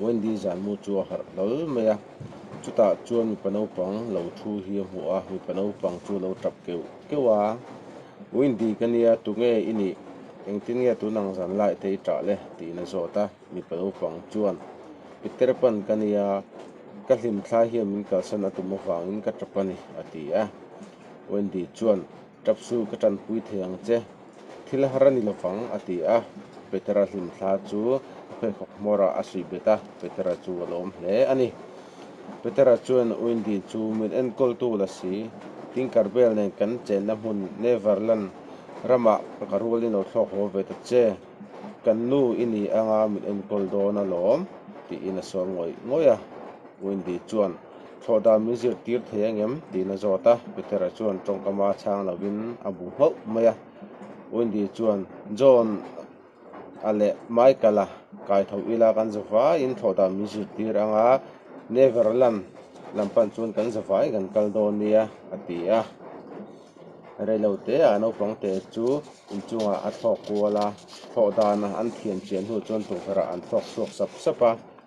Wendy zanmu chu a harh hlawl mai a, chutah chuan mipa naupang lo thu hi a hmuh a, mipa naupang chu lo tap keuh keuh a, Wendy ka nia, tunge i nih? Engtin nge tun ang zan lai te i tah le? tiin a zawt a, mipa naupang chuan i ter pan ka nia, ka hlimthlai hian min kalsan a tum avangin ka tap a ni, a ti a, Wendy chuan, Tap su ka tanpui thei ang che. Thil har a ni lovang, a ti a. Petera hlim thla chu a pheikhawk hmawrah a suih bet a, Petera chu a lawm hle a ni. Petera chuan, Wendy chu min enkawltu la si, tingkar vel nen kan chenna hmun Neverland ramah ka rual i no thlawk haw ve ta che, kan nu i ni anga min enkawl dawn alawm, tiin a sawi ngawih ngawih a. Wendy chuan, Thlawh dan min zirtir thei ang em? tihna zawt a, Peter-a chuan tawngkama chhang lovin a bu hauh mai a. Wendy chuan, John a leh Michael-a kai tho ila kan za vaiin thlawh dan min zirtir ang a, Neverland lam pan chuan kan za vaiin kan kal dawn nia, a ti a. Reilo teah naupang te chu inchungah a thlawk kual a, thlawh dan an thian chiah hnu chuan tukverhah an thlawk chhuak sap sap a.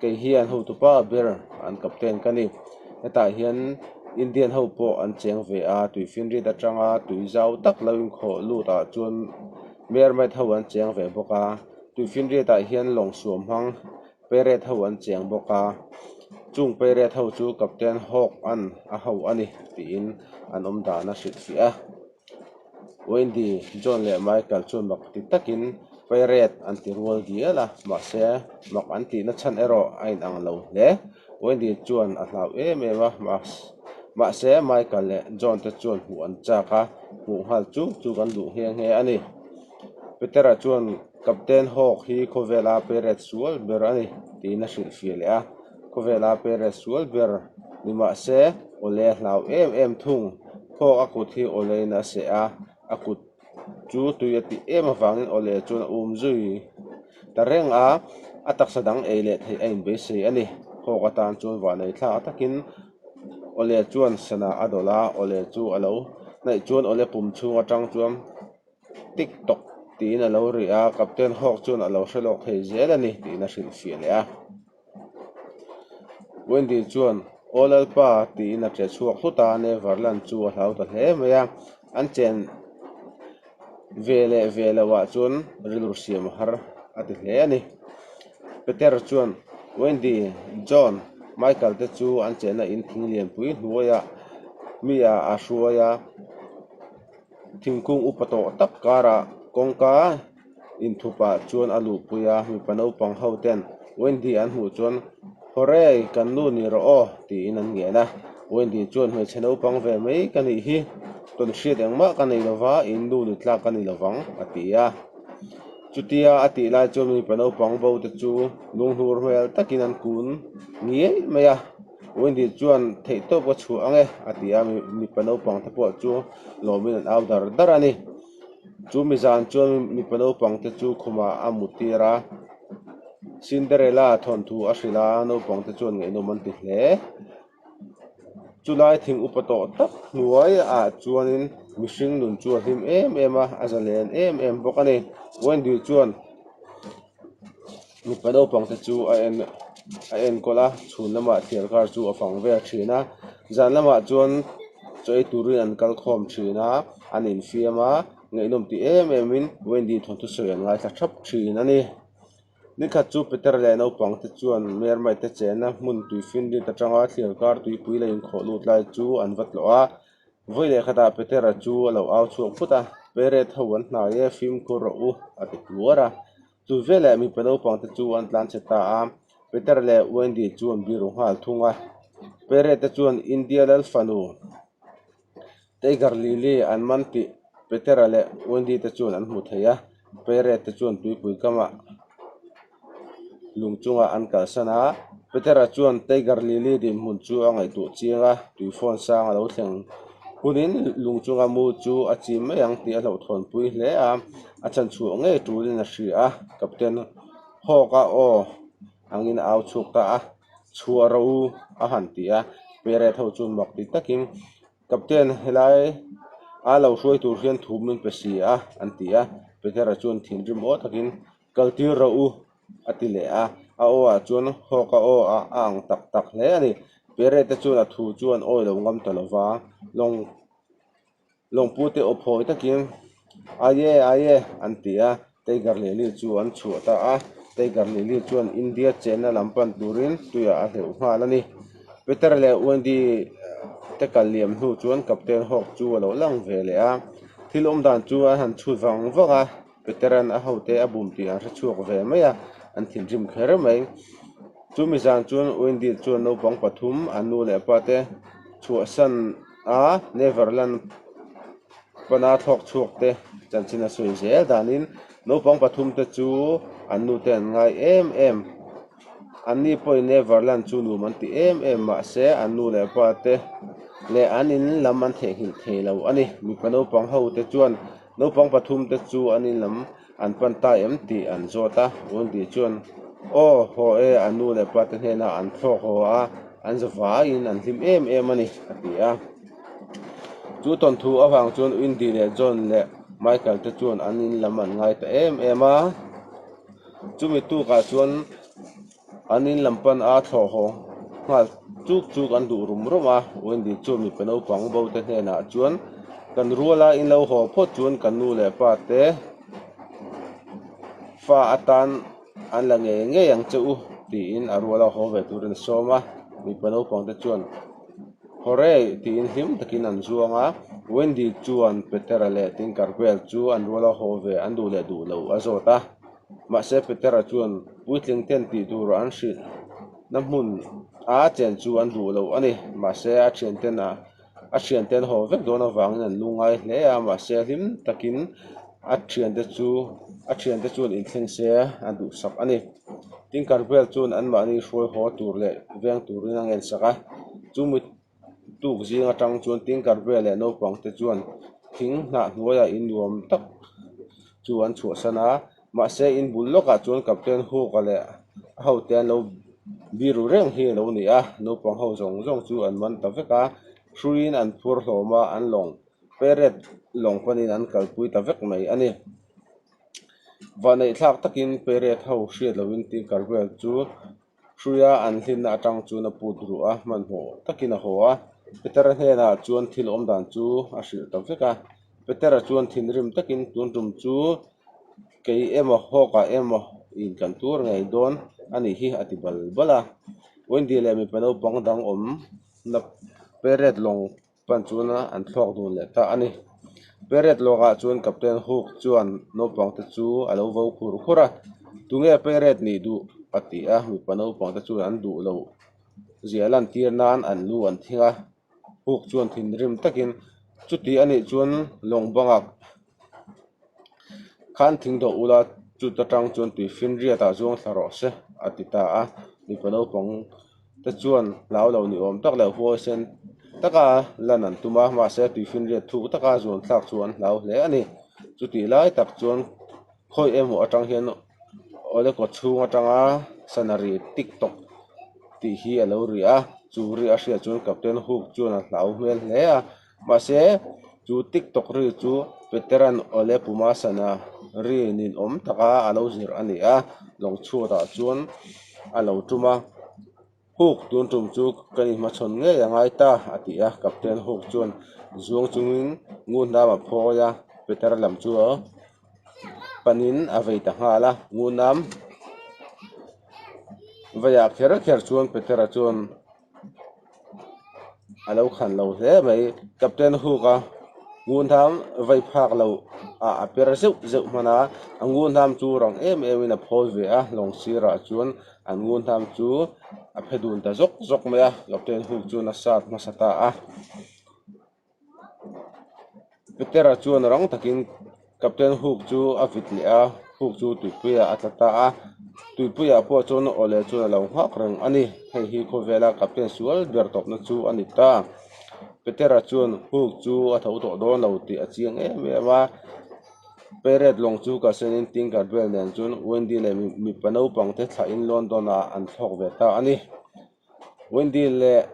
Kei hian hotupa ber an captain ka ni. Hetah hian Indian ho pawh an cheng ve a, tui finrit atanga tui zau tak lo inkhawh lutah chuan Mermaid ho an cheng ve bawk a, tui finritah hian lawngsuam hmang Pirate ho an cheng bawk a, chung Pirate ho chu Captain Hawk an a ho a ni tiin an awmdana hrilhfiah a. Wendy, John leh Michael chu mak ti takin Pairet an ti rual dial a, mahse mak an tihna chhan erawh a inang lo hle. Wendy chuan a hlau em em a, mahse Michael leh John te chuan hmuh an chak a, hmuh nghal chuk chu kan duh nghe nghe a ni. Petera chuan, Captain hawk hi khawvela Pairet sual ber a ni, tiin a hrilh fir leh a. Khawvela Perez sual ber ni mah se, Ole a hlau em em thung. Thawk a kut hi Olein a seh a, a kut chu tui a tih em avangin Ole chuan a um zui ta reng a, a taksa dang ei leh theih a inbeisei a ni. Thawk atan chuan vanei thlak takin Ole chuan sanah a dawlh a, Ole chu a lo hnaih chuan Ole pum chhung atang chuan tik tawk tiin a lo riah a, captain hawk chuan a lo hre lawk thei zel a ni tiin a hrilhfiah leh a. Wendy chuan aw lalpa tiin a che chhuak hlut a, Neverland chu a hlau ta hle mai a, an chen ve leh ve lo ah chuan rilru siam a har a ti hle a ni. Peter chuan Wendy, John, Michael te chu an chenah in thing lianpui hnuaiah mi ah a hruai a. Thingkung upa tawh tak karah kawngka inthupa chuan a luhpui a, mipa naupang ho ten Wendy an hmuh chuan Hawrei, kan nu ni rawh aw tiin an ngen a, Wendy chuan Hmeichhe naupang ve mai ka nih hi, tawn hriat engmah ka nei lova, in nu ni tlak ka ni lovang a ti a. Chutia a tih lai chuan mipa naupang bote chu lunghlur hmel takin an kun ngiaih mai a. Wendy chuan, Theih tawp ka chhuah ang e, a ti a, mipa naupang te pawh chu lawmin an au dar dar a ni. Chu mizan chuan mipa naupang te chu khumah a mu tir a, Cinderella thawnthu a hrilh a, naupang te chuan ngaihnawm an ti hle. Chu lai thing upa tawh tak hnuai ah chuan in mihring nun chu a hlim em em a, a zalen em em bawk a ni. Wendy chuan, mipa naupang te chu a en a enkawl a chhun lamah thian kar chu a fang vel thin a zan lamah chuan chaw ei turin an kal khawm thin a an infiam a ngaihnawm ti em em in Wendy thawng thu sawi an ngaithla thap thin a ni ni khat chu Peter leh naupang te chuan mer mite te chen a hmun tui fin rit atanga thian kar tuipui la inkhawh lut lai chu an va tlawh a vawi leh khatah Peter a chu a lo au chhuak phut a Peret ho an hnai e fimkhur rawh u a ti tuar a. Chu veleh mipa naupang te chu an tlan chhe ta a, Peter leh Wendy chu an biru nghal thung a. Pere te chuan India lal fanu Tiger Lily an man tih Peter a leh Wendy te chuan an hmu thei a. Pere te chuan tuipui kama lung chunga an kalsan a, Peter a chuan Tiger Lily dinhmun chu a ngaihtuah chiang a, tui phone sang a lo thleng hunin lung chunga mu chu a chim mai ang tih a hlauhthawn pui hle a. A chanchhuah ngei turin a hria a, Captain hawk a aw angin a au chhuk ta a, Chhuah ro u a han ti a, Peret ho chu mak ti takin, Captain helai a lo hruai tur hian thu min pe si a an ti a, Petera chuan thinrim aw takin, Kal tir ro u a ti leh a, a aw ah chuan hawk a aw a a ang tak tak hle a ni. Peret te chuan a thu chu an awi lo ngam ta lova, lawng. Lawngpu te awp hawi takin, Aye, aye, an ti a, Teigar Lili chu an chhuah ta a. Teigar Lili chuan India chenna lam pan turin tuiah a hleuh nghal a ni. Peter leh Wendy te kal liam hnu chuan Captain Hawk chu a lo lang ve leh a. Thil awm dan chu an han chhut vang vang a, Peter-a'n a hote a bum tih an hre chhuak ve mai a, an thinrim kher mai. Chumi zan chuan Wendy chuan naupang pathum, a nu leh a pa te, chhuahsan. a Neverland pana thlawk chhuak te chanchin a sawi zel dan in naupang pathum te chu an nu te an ngai em em, an ni pawh in Neverland chu num an ti em em mahse an nu leh pa te leh an in lam an theh nghilh thei lo a ni, mipa naupang ho te chuan-- Naupang pathum te chu an in lam an pan ta em tih an zawt a, Rundi chuan aw haw e, a nu leh pa te hnena an thlawk haw a, an za vai in an hlim em em a ni a ti a. Chu tawn thu avang chuan Windy leh John leh Michael te chuan an in lam an ngai ta em em a, chumi tukah chuan, An in lam pan a thlawhawng nghal chuk chuk an duh rum rum a, Wendy chu mipa naupang bo te hnenah chuan, Kan rual a, in lo haw phawt chuan kan nu leh pa te fa atan an la ngei ngei ang che u, tiin a rual a haw ve turin a sawm a, mipa naupang te chuan, Haw re, tiin hlim takin an zuang a, Wendy chuan Petera leh Tinker vel chu an rual a haw ve an duh leh duh loh a zawt a. Mahse Petera chuan, Puitling ten tih tur an hrilh na hmun a chen chu an duh loh a ni. Mahse a thian ten a a thian ten haw vek dawn avangin an lu ngai hle a. Mahse a hlim takin a thian te chu a thian te chuan inthleng se a duhsak a ni. Tin Karvel chuan anmahni hruaihaw tur leh veng turin a ngensak a. Chu mi. Tuk zing atang chuan tingkar vel leh naupang te chuan thing hnah hnuaiah in nuam tak chu an chhuahsan a, mahse in bul lawkah chuan Captain Hook a leh a hote an lo biru reng hi a lo ni a, naupang ho zawng zawng chu an man ta vek a, hruiin an phur hlawm a, an lawng peret lawng panin an kalpui ta vek mai a ni. Vaneih thlak takin peret ho hriat loin tingkar vel chu Hruia an hlinna atang chuan a put ruh a, hmanhmawh takin a haw a. Petera hnenah chuan thil awm dan chu a hrilh ta vek a. Petera chuan thinrim takin, Tun tum chu kei emaw hawka emaw in kan tur ngei dawn a nih hi, a ti bal bal a. Wendy leh mipa naupang dang awmna peret lawng. Pan chuan an thlawk dun leh ta a ni. Peiret lawkah chuan captain Hook chuan naupangte chu a lo vo khur khur a, Tunge Peiret nih duh? a ti a. Mipa naupangte chuan an duh loh ziah lantir nan an lu an thing a. Hook chuan thinrim takin, Chuti a nih chuan lawng bangah khan thing doh ula, chuta tang chuan tui finriatah zuang thla rawh se, a ti ta a. Mipa naupang te chuan hlau lo ni awm tak leh huai sen taka lan an tum a mahse tuifi'n riat thuk taka zuan thlak chu an hlau hle a ni chutih lai tak chuan khawi emaw atang hian awle kawt chhung atanga sana ri tik tawk tih hi a lo ri a chu ri a hriat chuan captain hook chuan a hlau hmel hle a. Mahse, chu TikTok ri chu veteran Ole Pumasana ri nin awm taka a lo zirh a ni a, lawng chhuatah chuan a lo tum a, Hook tun tum chu ka ni hmachhawn ngei a ngai ta a ti a, Captain Hook chuan zuang chungin ngu hnam a phawi a, Peter lam chu panin a vei ta nghal a, ngu hnam veiah kher kher chuan Peter a chuan. a lo khan lo hle mai captain hook a ngun ham vei phak loh ah a per zeuh zeuh hman a a ngun ham chu rang em em in a phawi ve a lawng sir ah chuan an ngun ham chu a phe dun ta zawk zawk mai a captain hook chuan a sat hmasa ta a. Peter a chuan rang takin captain Hook chu a vit leh a, Hook chu Tupuia a tla ta a, Tupuia pawh chuan aw leh chuan alo nghak reng a ni. Hei hi khawvela captain sual ber tawpna chu a ni ta. Peter a chuan Hook chu a tho tawh dawn lo tih a chiang em em a, Peret lawng chu ka sen in Tinker Bell nen chuan Wendy leh mipa naupangte thlahin London-ah an thlawk ve ta a ni. Wendy leh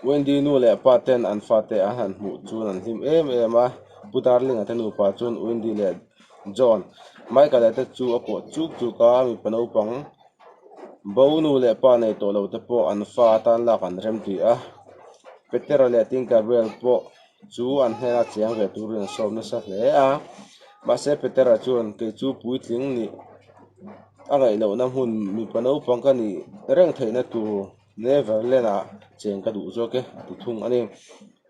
Wendy nu leh pa ten an fate an han hmuh chuan an hlim em em a, Pu Darling-a te nupa chuan Wendy leh John, Michael-a te chu a kawh chuk chuk a, mipa naupang bo nu leh pa nei tawh lo te pawh an fa a tan lak an rem tih a, Petera leh Tin Gabriel pawh. chu an hnena chiang ve turin an sawm nasa hle a mahse Peter ah chuan kei chu puitling nih a ngaihlohna hmun mipa naupang ka nih reng theihna tur Neverland ah cheng ka duh zawk e a ti thung a ni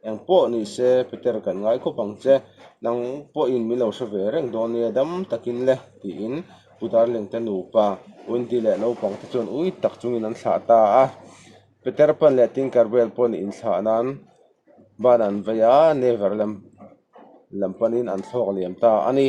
eng pawh ni se Peter kan ngai khawp ang che nang pawhin min lo hre ve reng dawn nia dam takin le tiin Pu Darling te nupa Wendy leh naupang te chuan ui tak chungin an thlah ta a Peter pan leh Tinkerbell pawh nih inthlah nan-- Ban an vei a, Never lem lam panin an thlawk liam ta a ni.